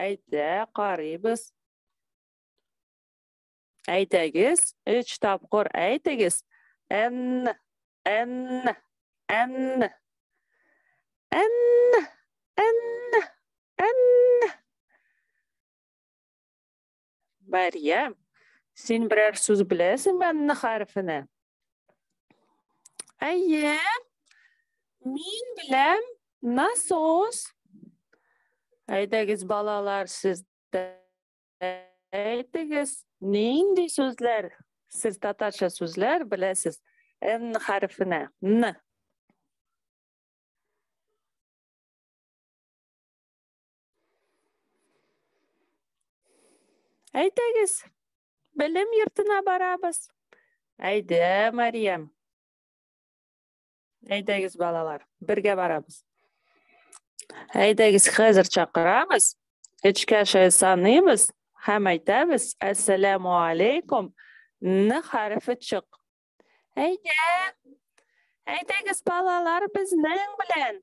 Әйдә, карыйбыз. Әйтегез, үч тапкыр әйтегез. Н, Н, Н, Н, Н, Н. Мәрьям, син берәр сүз беләсеңме Н хәрефенә? Әйе. Мин беләм насос. Әйдәгез балалар, сез әйтегез, нинди сүзләр, сез татарча сүзләр беләсез Н хәрефенә? Н. Әйтегез, белем йортына барабыз. Әйдә, Мариям. Әйдәгез, балалар, бергә барабыз. Әйдәгез, хәзер чакырабыз. Эчкә шәй саныйбыз һәм әйтәбез, Әссәләму алейкум, ны хәрефе чык. Әйдә, әйдәгез, балалар, безнең белән.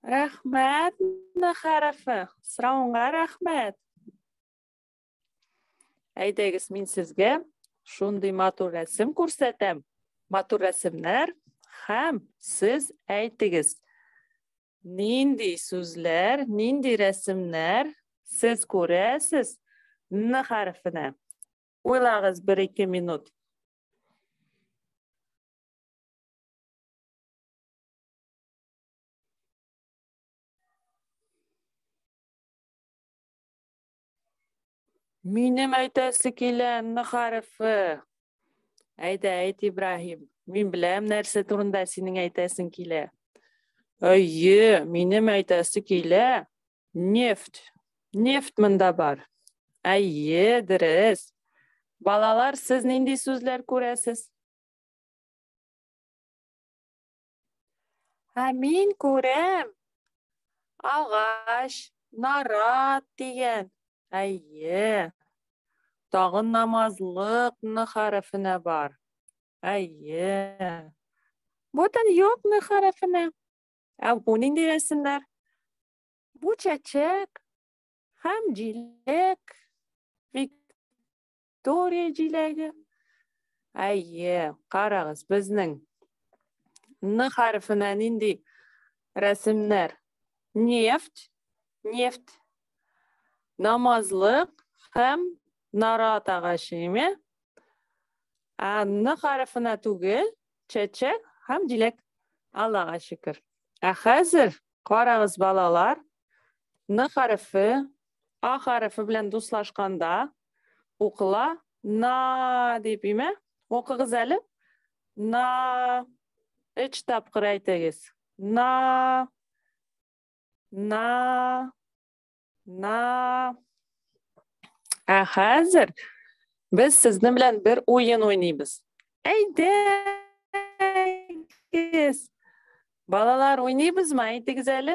Рәхмәт, Н хәрефе. Сорауңа рәхмәт. Әйдәгез, мин сезгә шундый матур рәсем күрсәтәм. Матур рәсемнәр һәм сез әйтегез. Нинди сүзләр, нинди рәсемнәр сез күрәсез Н хәрефенә? Уйлагыз бер ике минут. Минем әйтәсе килә мәгарифе. Әйдә, әйт Ибраһим. Мин беләм нәрсә турында синең әйтәсең килә. Әйе, минем әйтәсе килә. Нефть. Нефть монда бар. Әйе, дөрес. Балалар, сез нинди сүзләр күрәсез? Ә мин күрәм, агач, нарат дигән. Әйе. Тагын намазлык ны хәрефенә бар. Әйе. Бүтән юк ны хәрефенә. Ә бу нинди рәсемнәр? Бу чәчәк һәм җиләк. Виктория җиләге. Әйе, карагыз, безнең Н хәрефенә нинди рәсемнәр? Нефть, нефть, намазлык һәм нарат агачы, име? Ә Н хәрефенә түгел, чәчәк һәм җиләк. Аллага шөкер. Ә хәзер карагыз, балалар, Н хәрефе А хәрефе белән дуслашканда укыла на дип име? Укыгыз әле. На өч тапкыр әйтегез. На на на Ә хәзер без сезнең белән бер уен уйныйбыз. Әйдәгез. Балалар уйныйбызмы? Әйтегез әле.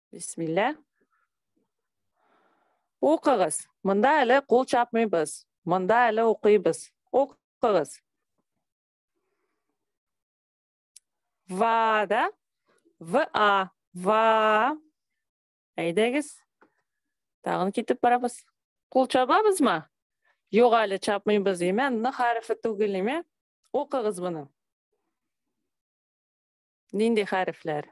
Бисмилла. Укыгыз. Монда әле кул чапмыйбыз. Монда әле укыйбыз. Укыгыз. Ва да? В а. Ва. Әйдәгез. Тагын китеп барабыз. Кул чабабызмы? Юк әле чапмыйбыз, име? Н хәрефе түгел, име? Укыгыз моны. Нинди хәрефләр?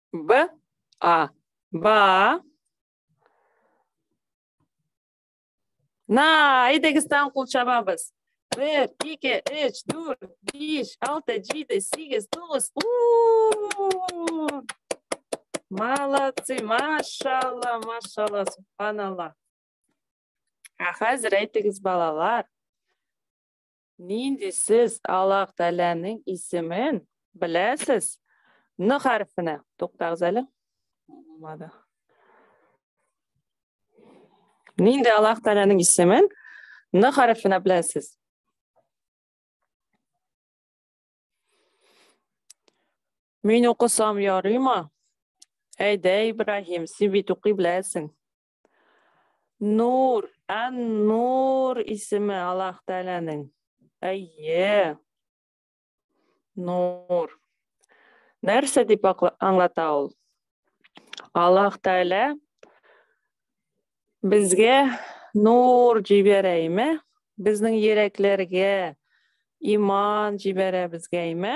Б, А. Ба. На, әйдәгестан кул чабабыз. Бер, ике, өч, дүрт, биш, алты, җиде, сигез, тугыз. Молодцы, машалла, машалла, субханалла. Ә хәзер әйтегез, балалар. Нинди сез Аллаһ Тәгаләнең исемен беләсез? Н хәрфенә. Туктагыз әле. Булмады. Нинди Аллаһ Тәгаләнең исемен Н хәрфенә беләсез? Мин укысам ярыймы? Әйдә, Ибраһим, син бит укый беләсең. Нур, Ан-Нур исеме Аллаһ Тәгаләнең. Әйе. Нур. Нәрсә дип аңлата ул? Аллаһ Тәгалә безгә нур җибәрә име? Безнең йөрәкләргә иман җибәрә безгә име?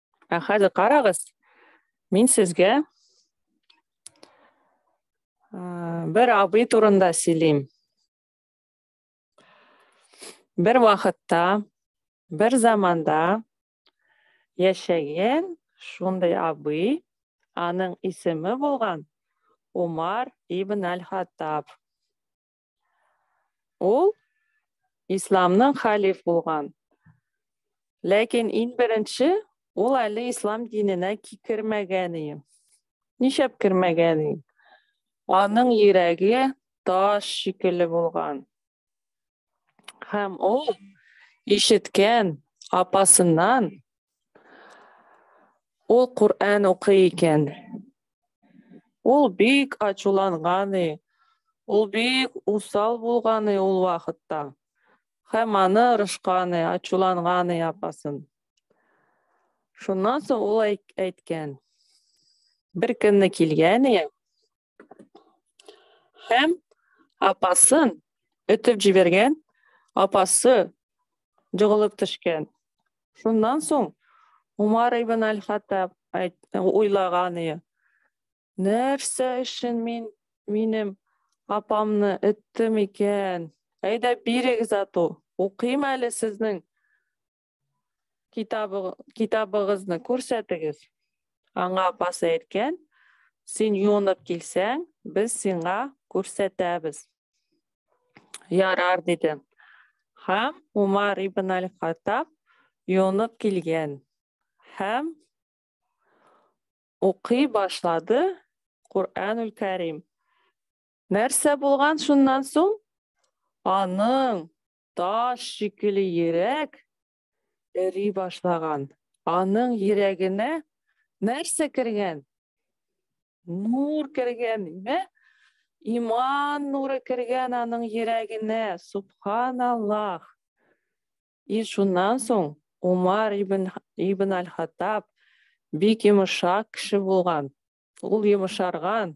Ә хәзер карагыз, мин сезгә бер абый турында сөйлим. Бер вакытта, бер заманда яшәгән шундый абый, аның исеме булган Умар ибн Аль-Хаттаб. Ул исламның халиф булган. Ләкин ин беренче ул әле ислам диненә кикермәгән иде. Ничәп кермәгән иде. Аның йөрәге таш шикелле булган. Һәм ул ишеткән апасыннан Ул Коръән укый икән. Ул бик ачуланганы, ул бик усал булганы ул вакытта. Һәм аны рышканы, ачуланганы апасын. Шуннан соң ул әйткән. Бер көнне килгәне, Һәм апасын өтеп җибәргән, апасы җыгылып төшкән. Шуннан соң Умар ибн Аль-Хаттаб уйлаганы, нәрсә өчен мин минем апамны өттем икән? Әйдә бирегез ату, укыйм әле сезнең Китабы, китабыгызны күрсәтегез. Аңа апасы әйткән, син юынып килсәң, без сиңа күрсәтәбез. Ярар, диде. Һәм Умар ибн Аль-Хаттаб юынып килгән һәм укый башлады Куранул Кәрим. Нәрсә булган шуннан соң? Аның таш шикелле йөрәк эри башлаган. Аның йөрәгенә нәрсә кергән? Нур кергән, ме? Иман нуры кергән аның йөрәгенә. Субханаллах. И шуннан соң Умар ибн, ибн Аль-Хаттаб бик йомшак кеше булган. Ул йомшарган.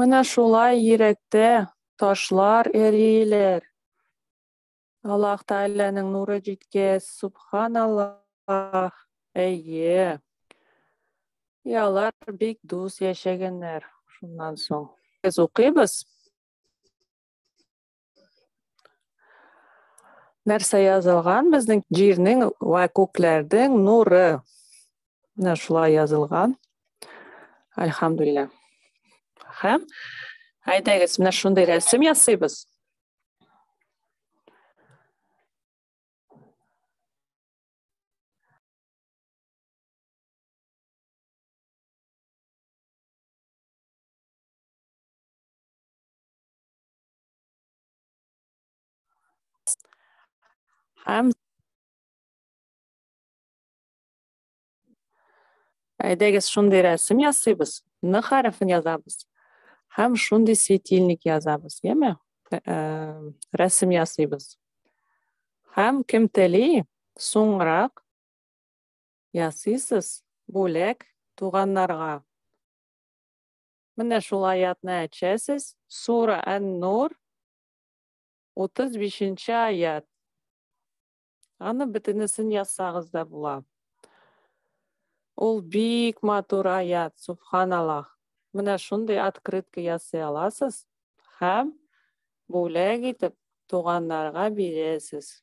Менә шулай йөрәктә ташлар эриләр. Аллаһ Тәгаләнең нуры җиткәч, субханаллаһ. Әйе. И алар бик дус яшәгәннәр. Шуннан соң без укыйбыз. нәрсә язылган безнең җирнең вә күкләрдең нуры менә шулай язылган альхамдулилля һәм әйдәгез менә шундый рәсем ясыйбыз I'm Әйдәгез шундый рәсем ясыйбыз, ны хәрефен язабыз һәм шундый светильник язабыз, яме? Рәсем ясыйбыз. Һәм кем тели, соңрак ясыйсыз бүләк туганнарга. Менә шул аятны әчәсез, Сура Ән-Нур, 35 нче аят. Аны бөтенесен язсагыз да була. Ул бик матур аят, субханаллах. Менә шундый открытка ясый аласыз һәм бүләк итеп туганнарга бирәсез.